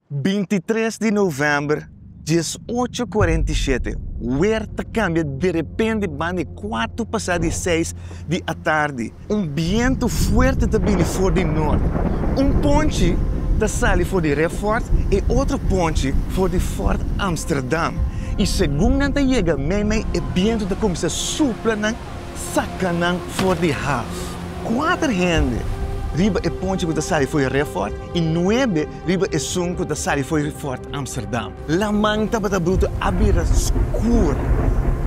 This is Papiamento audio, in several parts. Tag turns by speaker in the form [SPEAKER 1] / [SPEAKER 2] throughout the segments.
[SPEAKER 1] Bintitres di novèmber, dies ocho kuarenta i shete, wer ta kambia derepende banda e kuatu pasá di seis di atardi. Un bientu fuerte ta bini for di nort. Un ponchi ta sali for di Refort e otro ponchi for di Fort Amsterdam. I segun nan ta yega meimei e bientu ta kuminsá supla nan, saka nan for di Haaf. Kuater hende riba e ponchi ku ta sali for di Refort i nuebe Riba esun cu ta sali fo'i Fort Amsterdam. Laman tabata brutu a bira scuur.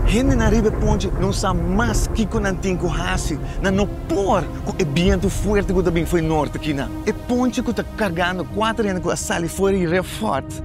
[SPEAKER 1] Hendenan riba e ponchi no sa mas kico nan tin cu haci. Nan no por cu e bientu fuerte cu ta bin fo'i norte kina. E ponchi cu ta cargando cuater hende cu a sali fo'i Re Fort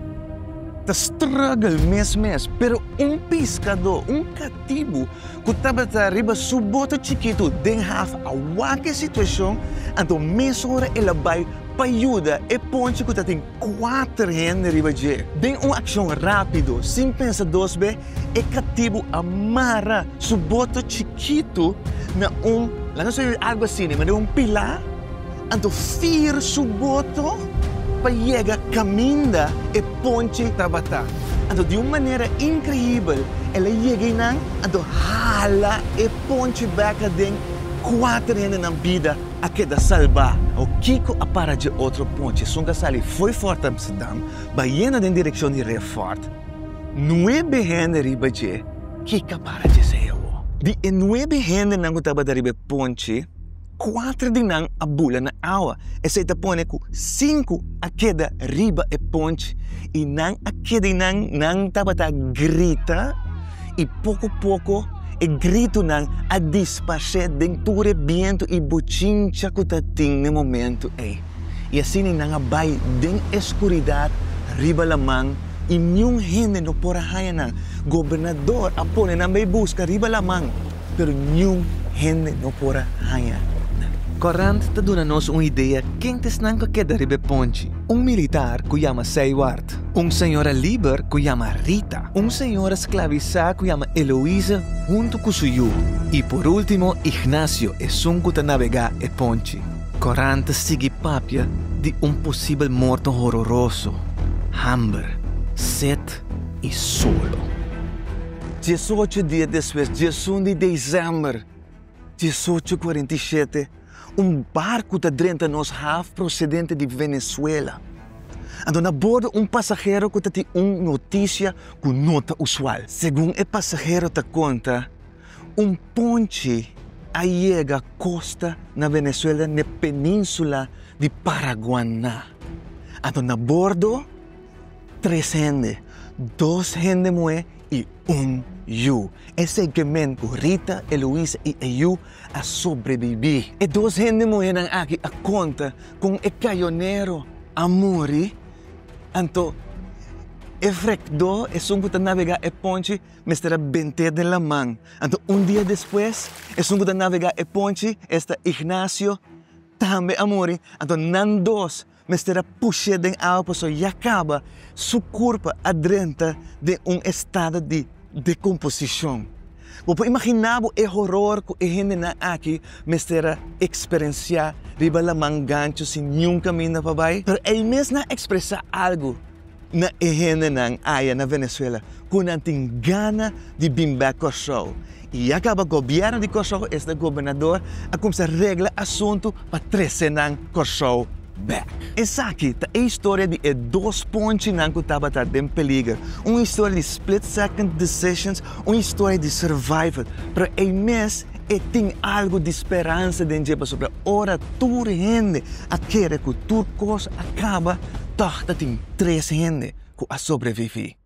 [SPEAKER 1] ta struggle mes mes. Pero un piscado, un catibu cu tabata riba su boto chikitu den haf a wak e situacion, anto mesora el a bay. pa yuda e ponchi ku ta tin kuater hende riba dje. Den un akshon rápido, sin pensa dos be, e katibu a mara su boto chikitu na un, la nos oí algu asina, i manda un pilá, anto fir su boto pa yega kaminda e ponchi tabatá. Anto di un manera inkreibel el a yega einan, anto hala e ponchi bek aden kuater hendenan bida. a keda salbá o kiko a para dje otro ponche esun ta sali fo'i fort Amsterdam bayendo den direkshon di Reef Fort. Nuebe hende riba dje kiko a para dje sei awo. Di e nuebe hendenan ku tabata riba e ponche, kuater di nan a bula na awa. Esei ta pone ku sinku a keda riba e ponche i nan a keda i nan nan tabata grita. I poko poko e gritunan a disparsé den tur e bientu i bochincha ku ta tin na e momentu ei. I asina nan a bai den eskuridat riba laman i niun hende no por a haña nan. Gobernador a pone nan bai buska riba laman, pero niun hende no por a haña nan. Korant ta duna nos un idea ken ta esnan ku a keda riba e ponchi. Un militar ku yama Seyward Kat, un señora liber ku yama Rita, un señora sklavisá ku yama Eloise huntu ku su yu, i por último Ignacio, esun ku ta nabegá e ponchi. Korant ta sigui papia di un posibel morto hororoso, hamber, set i solo. Diesocho dia despues, diesun di desèmber diesocho kuarenta i shete, Un barku ta drenta nos haf prosedente di Venezuela. Anto na bordo un pasahero ku ta tin un notisia ku no ta usual. Segun e pasahero ta konta, un ponchi a yega kosta na Venezuela n'e peninsula di Paraguaná. Anto na bordo tres hende, dos hende muhé i un yu. E segment ku Rita, Eloise i e yu a sobrebibí. E dos hende muhénan aki a konta kon e kayonero a muri, anto e frekdó esun ku ta navegá e ponchi mester a bent'é den laman. Anto un dia despues, esun ku ta navegá e ponchi, esta Ignacio, tambe a muri, anto nan dos mester a push'é den awa pasobra ya kaba, su kurpa a drenta den un estado di dekomposishon. Bo por imaginá bo e horor ku e hendenan aki mester a eksperensiá riba laman gancho sin niun kaminda pa bai? Pero ei mes nan ekspresá algu. na e hendenan aya na Venezuela ku nan tin gana di bin bek Kòrsou. I ya kaba gobièrnu di Kòrsou esei gobernador a kumsa regla asuntu pa trese nan Kòrsou bek. Esaki ta e historia di e dos ponchinan ku tabata den peliger, un historia di split second decisions, un historia di survival. Pero ei mes E tin algu di speransa den dje pasobra ora tur hende a kere ku tur kos a kaba, tòg ta tin tres hende ku a sobreviví.